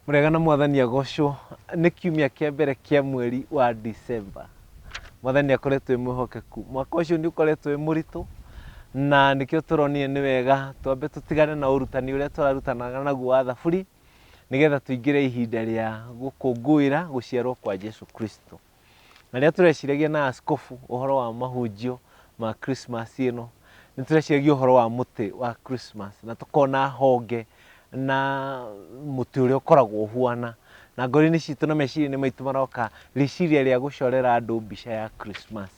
Mũrĩega na mwathani agocwo. Nĩ kiumia kĩa mbere kĩa mweri wa December. Mwathani nĩ akoretwo mwĩhokeku. Mwaka ũcio nĩ ũkoretwo wĩ mũritũ na nĩkĩo tũronire nĩ wega twambe tũtigane na ũrutani ũrĩa tũrarutanaga naguo wa thaburi nĩgetha tũingĩre ihinda rĩa gũkũngũĩra gũciarwo kwa Jesu Kristo. Na rĩrĩa tũreciragia na askobu ũhoro wa mahunjio ma Christmas ĩno, nĩ tũreciragia ũhoro wa mũtĩ wa Christmas na tũkona honge na mũtĩ ũrĩa ũkoragwo ũhuana. Na ngoro-inĩ citũ na meciria-inĩ maitũ maroka rĩciria rĩa gũcorera andũ mbica ya Christmas.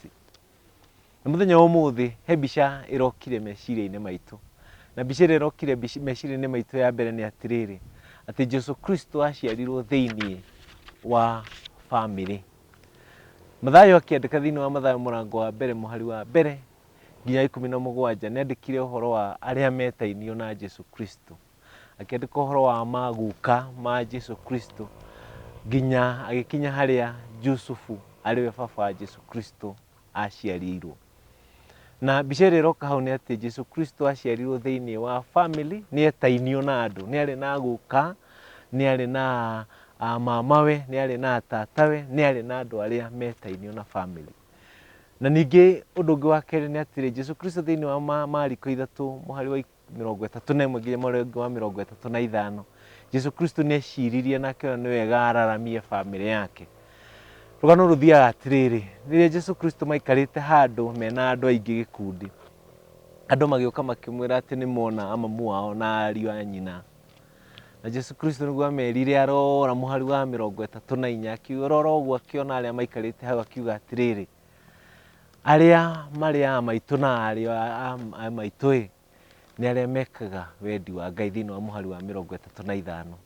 Na mũthenya wa ũmũthĩ he mbica ĩrokire meciria-inĩ maitũ. Na mbica ĩrĩa ĩrokire mbica- meciria-inĩ maitũ ya mbere nĩ atĩrĩrĩ, atĩ Jesu Kristo aciarirwo thĩinĩ wa bamĩrĩ. Mathayo akĩandĩka thĩinĩ wa Mathayo mũrango wa mbere mũhari wa mbere nginya ikũmi na mũgwanja nĩandĩkire ũhoro wa arĩa metainio na Jesu Kristo. Akĩandĩka ũhoro wa maguka ma Jesu Kristo nginya agĩkinya harĩa Jusufu arĩwe baba wa Jesu Kristo aciarirwo. Na mbica ĩrĩa ĩroka hau nĩ atĩ Jesu Kristo aciarirwo thĩinĩ wa family, nĩ etainio na andũ, nĩ arĩ na guka, nĩ arĩ na ah, mamawe, nĩ arĩ na atatawe, nĩ arĩ na andũ arĩa metainio na family. Na ningĩ ũndũ ũngĩ wa kerĩ nĩ atĩrĩ, Jesu Kristo thĩinĩ wa ma- Mariko ithatũ mũhari wa mĩrongo ĩtatũ na ĩmwe nginya mũrongo wa mĩrongo ĩtatũ na ithano jesu kristo nĩ eciririe na akĩona nĩ wega araramie bamĩrĩ yake rũgano rũthiaga atĩrĩrĩ rĩrĩa jesu kristo maikarĩte handũ mena andũ aingĩ gĩkundi andũ magĩũka makĩmwĩra atĩ nĩ mona amamu wao na ariũ a nyina na jesu kristo nĩguo amerire arora mũhari wa mĩrongo ĩtatũ na inya akiurora ũguo akĩona arĩa maikarĩte hau akiuga atĩrĩrĩ Arĩa marĩ aa maitũ na aarĩ aa maitũ-ĩ, nĩ arĩa mekaga wendi wa Ngai thĩinĩ wa mũhari wa mĩrongo ĩtatũ na ithano.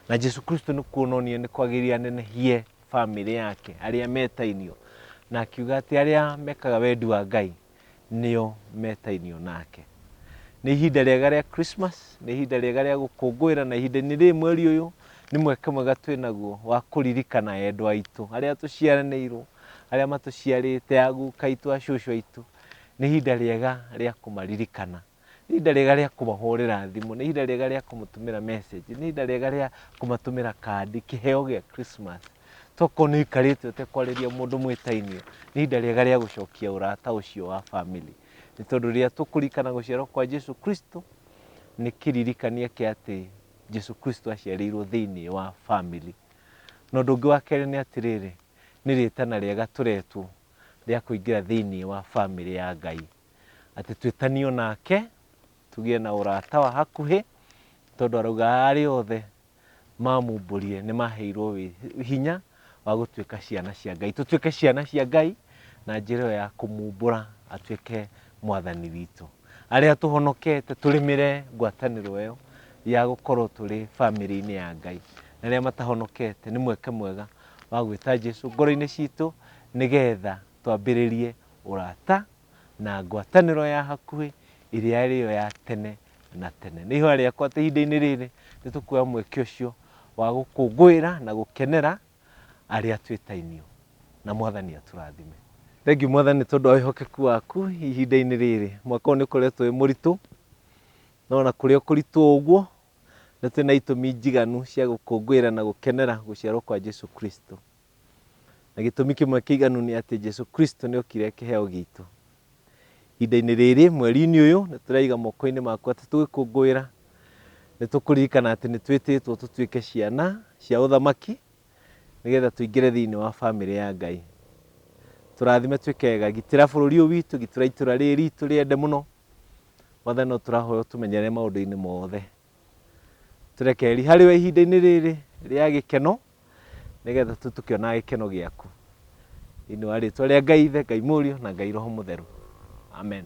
Na Jesu Kristo nĩ kuona onire nĩ kwagĩrĩire anenehie bamĩrĩ yake, arĩa metainio, na akiuga atĩ arĩa mekaga wendi wa Ngai nĩo metainio nake. Nĩ ihinda rĩega rĩa Christmas, nĩ ihinda rĩega rĩa gũkũngũĩra na ihinda-inĩ rĩrĩ mweri ũyũ nĩ mweke mwega twĩ naguo wa kũririkana endwa aitũ arĩa tũciaranĩirwo, arĩa matũciarĩte, aguka aitũ, acũcũ aitũ. Nĩ ihinda rĩega rĩa kũmaririkana. Nĩ ihinda rĩega rĩa kũmahũrĩra thimũ, nĩ ihinda rĩega rĩa kũmũtũmĩra message, nĩ ihinda rĩega rĩa kũmatũmĩra kandi, kĩheo gĩa Christmas. Tokorwo nĩ ũikarĩte ũtekwarĩria mũndũ mwĩtainio, nĩ ihinda rĩega rĩa gũcokia ũrata ũcio wa family. Nĩ tondũ rĩrĩa tũkũririkana gũciarwo kwa Jesu Kristo, nĩ kĩririkania kĩa atĩ Jesu Kristo aciarĩirwo thĩinĩ wa family. Na ũndũ ũngĩ wa kerĩ nĩ atĩrĩrĩ, nĩ rĩtana rĩega tũretwo rĩa kũingĩra thĩinĩ wa family ya Ngai. atĩ twĩtanio nake tũgĩe na ũrata wa hakuhĩ tondũ arauga arĩa othe mamumbũrire nĩ maheirwo wĩ- hinya wa gũtuĩka ciana cia ngai tũtuĩke ciana cia ngai na njĩra ĩyo ya kũmumbũra atuĩke mwathani witũ arĩa tũhonokete tũrĩmĩre ngwatanĩro ĩyo ya gũkorwo tũrĩ bamĩrĩ-inĩ ya ngai na arĩa matahonokete nĩ mweke mwega wa gwĩta jesu ngoro-inĩ citũ nĩgetha twambĩrĩrie ũrata na ngwatanĩro ya hakuhĩ ĩrĩa ĩrĩyo ya tene na tene. Nĩ ihoya rĩakwa atĩ ihinda-inĩ rĩrĩ nĩ tũkuoya mweke ũcio wa gũkũngũĩra na gũkenera arĩa twĩtainio na mwathani atũrathime. Thengiũ mwathani tondũ wa wĩhokeku waku ihinda-inĩ rĩrĩ. Mwaka ũyũ nĩ ũkoretwo wĩ mũritũ, no na kũrĩa kũritũ ũguo nĩ twĩ na itũmi njiganu cia gũkũngũĩra na gũkenera gũciarwo kwa Jesu Kristo. Na gĩtũmi kĩmwe kĩiganu nĩ atĩ Jesu Kristo nĩ okire kĩheo gitũ. Ihinda-inĩ rĩrĩ, mweri-inĩ ũyũ, nĩ tũraiga moko-inĩ maku atĩ tũgĩkũngũĩra, nĩ tũkũririkana atĩ nĩ twĩtĩtwo tũtuĩke ciana cia ũthamaki, nĩgetha tũingĩre thĩinĩ wa bamĩrĩ ya Ngai. Tũrathime twĩke wega, gitĩra bũrũri ũyũ witũ, gitĩra itũra rĩrĩ ritũ rĩende mũno. Mwathani no tũrahoya ũtũmenyerere maũndũ-inĩ mothe. tũrekeri harĩ we ihinda-inĩ rĩrĩ rĩa gĩkeno nĩgetha tu tũkĩonaga gĩkeno gĩaku thĩinĩ wa rĩtwa rĩa ngai ithe ngai mũriũ na ngai roho mũtheru amen